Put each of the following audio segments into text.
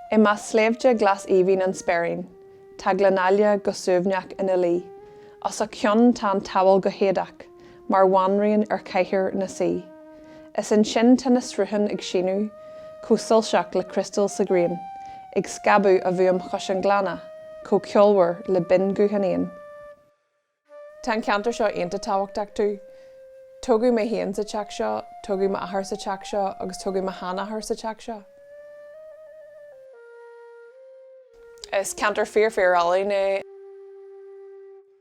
I measc sléibhte glas aoibhinn an Speirín, tá Gleann Aichle go suaimhneach ina luí. Os a chionn tá an tSamhail go héadach, mar bhanríon ar chathaoir ina suí. Is ansin tá na srutháin ag síneadh, chomh soilseach le criostal sa ghrian, ag scabadh a bhfuaim chois an ghleanna, chomh ceolmhar le binnghuth an éin. Tá an ceantar seo iontach tábhachtach domh. Tógadh mé féin sa teach seo, tógadh m'athair sa teach seo agus tógadh mo sheanathair sa teach seo. Is ceantar fíor fíor álainn é.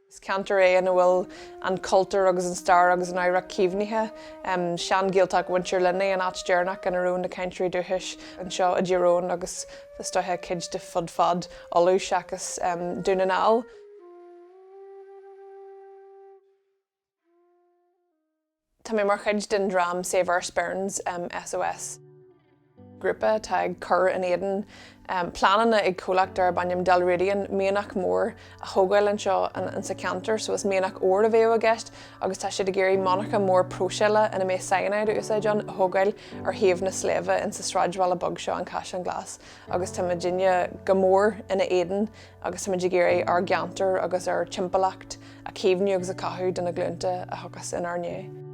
Is ceantar é ina bhfuil an cultúr agus an stair agus an oidhreacht caomhnaithe. Sean-Ghaeltacht Mhuintir Luinigh an áit deireanach ina raibh na cainteoirí dúchais anseo i dTír Eoghain agus is dóiche cuid de fud fad Uladh seachas Dún na nGall. Tá mé mar chuid den dream Save Our Sperrins, SOS, grúpa atá ag cur in éadan pleananna ag comhlacht darb ainm Dalradian mianach mór a thógáil anseo insa cheantar so is mianach óir a bheadh i gceist agus tá siad ag iarraidh monarcha mór próiséala ina mbeadh cyanide á úsáid ann a thógáil ar thaobh na sléibhe insa sráidbhaile beag seo An Caisleán Glas agus tá muidinne go mór ina éadan agus táimid ag iarraidh ár gceantar agus ár dtimpeallacht a chaomhnú agus a chothú do na glúnta a thiocfas inár ndiaidh.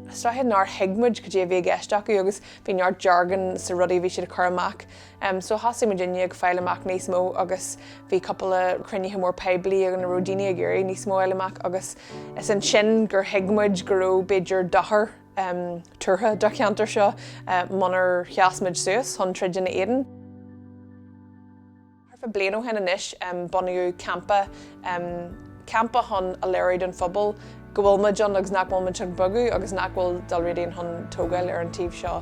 Is dóiche nár thuig muid cad é a bhí i gceist acu agus bhí neart jargon sa rudaí a bhí siad ag cur amach. Um, so thosaigh muidinne ag fáil amach níos mó agus bhí cúpla cruinnithe mór poiblí ina raibh daoine ag iarraidh níos mó a fháil amach agus is ansin gur thuig muid go raibh b'fhéidir dochar um, tuartha don cheantar seo uh, munar sheas muid suas chun troid ina éadan. Thart fá bhliain ó shin anois bunaíodh campa, campa chun a léiriú don phobal go bhfuil muid ann agus nach bhfuil muid chun bogadh agus nach bhfuil Dalradian chun tógáil ar an taobh seo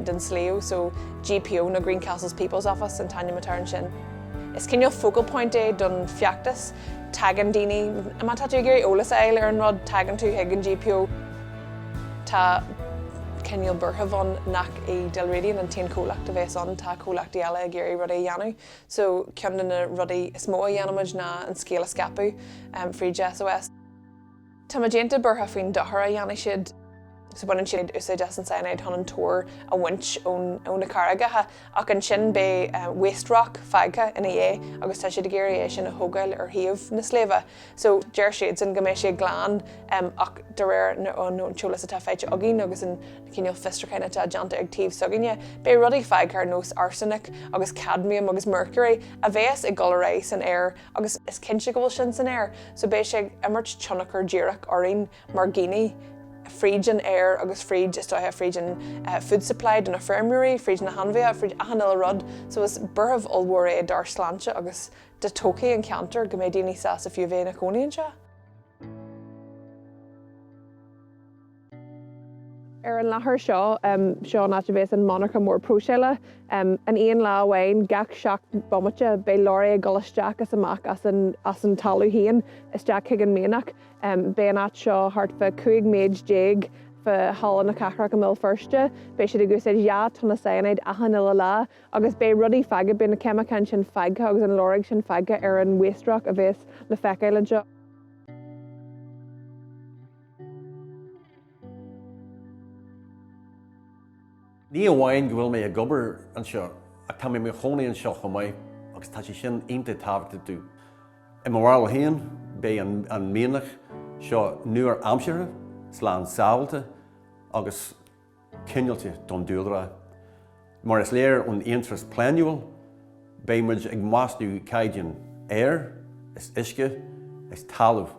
den sliabh so GPO nó Greencastles People's Office an t-ainm atá air ansin. Is cineál focal point é don feachtas, tagann daoine, má tá tú ag iarraidh eolas a fháil ar an rud, tagann tú chuig an GPO. Tá cineál buaireamh ann nach í Dalradian an t-aon chomhlacht a bheas ann, tá comhlachtaí eile ag iarraidh rudaí a dhéanamh, so ceann de na rudaí is mó a dhéanaimid ná an scéal a scaipeadh fríd SOS. Tá muid iontach buartha faoin dochar a dhéanfaidh siad, so baineann siad úsáid as an cyanide chun an t-ór a bhaint ó na carraigeacha ach ansin beidh waste rock fágtha ina dhiaidh agus tá siad ag iarraidh é sin a thógáil ar thaobh na sléibhe. So deir siadsan go mbeidh sé glan ach de réir an t-eolas atá faighte againn agus an cineál fiosrúcháin atá déanta ag taobh s'againne, beidh rudaí fágtha ar nós arsenic agus cadmium agus mercury a bheas go léir san aer agus is cinnte go bhfuil sin san aer so beidh sé ag imirt tionchar díreach orainn mar dhaoine fríd an aer agus fríd, is dóiche, fríd an food supply do na feirmeoirí, fríd na hainmhithe, fríd achan uile rud so is buaireamh ollmhór é dár sláinte agus do thodhchaí an cheantair, go mbeidh daoine sásta fiú a bheith ina gcónaí anseo. Ar an láthair seo, seo an áit a bheas an monarcha mór próiseála. An aon lá amháin, gach seacht mbomaite, beidh lorry ag dul isteach is amach as an, as an talamh féin, isteach chuig an mianach. Beidh an áit seo thart fá cúig méid déag fa Halla na Cathrach i mBéal Feirste. Beidh siad ag úsáid dhá tonna cyanide achan uile lá. agus beidh rudaí fágtha, beidh na ceimiceáin sin fágtha agus an lorg sin fágtha ar an waste rock a bheas le feiceáil anseo. Ní amháin go bhfuil mé ag obair anseo, ach tá mé i mo chónaí anseo chomh maith agus tá sé sin iontach tábhachtach dom. I mo bharúil féin, beidh an mianach seo nua-aimseartha, slán sábháilte agus. cineálta don dúlra. Mar is léir ón iarratas pleanála, beidh muid ag sású caighdeáin aeir is uisce is talaimh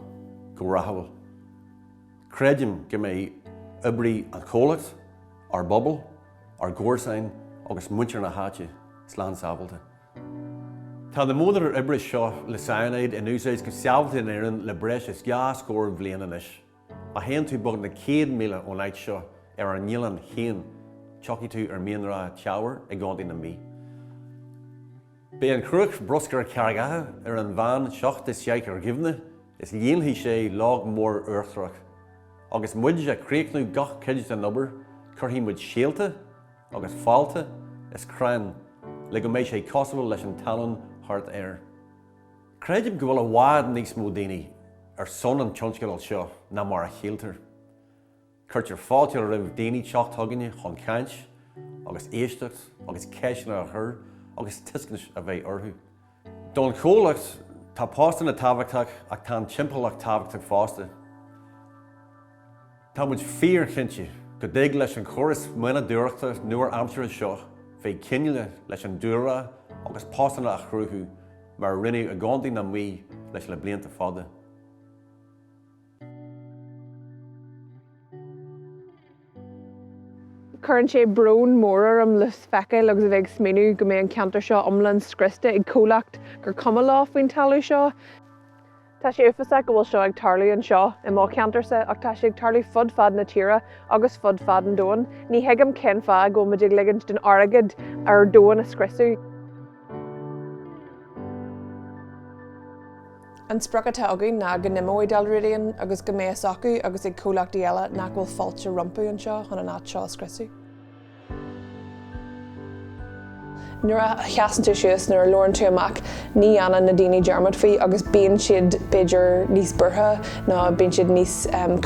go ráthúil. Creidim go mbeidh oibrithe an chomhlacht, ár bpobal, ár gcomharsain agus muintir na háite slán sábháilte. Tá na modhanna oibre seo le cyanide in úsáid go sábháilte in Éirinn le breis is dhá scór bhliain anois. Má théann tú beagnach céad míle ón áit seo ar an oileán chéanna tiocfaidh tú ar Mianra Teamhair i gContae na Mí. Beidh an chruach bruscair carraigeacha ar an mheán seacht is seaich ar doimhne is líonfaidh sé log mór uachtarach. Agus muid a' críochnú gach cuid den obair cuirfidh muid síolta agus fálta is crainn le go mbeidh sé cosúil leis an talamh thart air. Creidim go bhfuil i bhfad níos mó daoine ar son an tionscadail seo ná mar a shíltear. Cuirtear fáilte roimh daoine teacht chugainne chun caint agus éisteacht agus ceisteanna a chur agus tuiscint a bheith orthu. Don chomhlacht, tá postanna tábhachtach ach tá an timpeallacht tábhachtach fosta. Tá muid fíor-chinnte go dtig leis an chóras mianadóireachta nua-aimseartha seo bheith cineálta leis an dúlrá agus postanna a chruthú mar a rinneadh i gContae na Mí le blianta fada. Cuireann sé brón mór orm le feiceáil agus a bheith ag smaoineamh go mbeidh an ceantar seo iomlán scriosta ag comhlacht gur cuma leo faoin talamh seo. Tá sé uafásach go bhfuil seo ag tarlú anseo i mo cheantarsa ach tá sé ag tarlú fud fad na tíre agus fud fad an domhain. Ní thuigim cén fáth go bhfuil muid ag ligint don airgead ár domhan a scriosadh. An sprioc atá againn ná go n-imeoidh Dalradian agus go mbeidh fhios acu agus ag comhlachtaí eile nach bhfuil fáilte rompu anseo chun an áit seo a scriosadh. Nuair a sheasann tú suas, nuair a labhrann tú amach, ní dhéanann na daoine dearmad faoi agus bíonn siad b'fhéidir níos buartha nó bíonn siad níos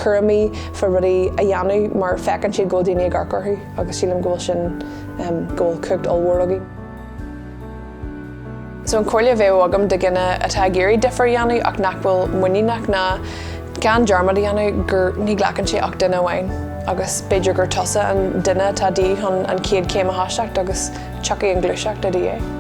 cúramaí fá rudaí a dhéanamh mar feiceann siad go bhfuil daoine ag amharc orthu agus sílim go bhfuil sin, go bhfuil cumhacht ollmhór againn. So an chomhairle a bheadh agam do dhuine atá ag iarraidh difear a dhéanamh ach nach bhfuil muiníneach ná gan dearmad a dhéanamh gur ní ghlacann sé ach duine amháin agus b'fhéidir gur tusa an duine atá de dhíth chun an chéad chéim a thoiseacht agus tiocfaidh an ghluaiseacht i do dhiaidh.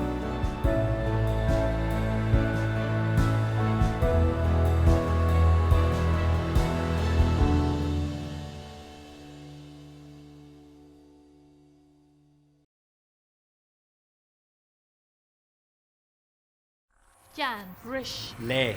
Jan, Bris. Léigh.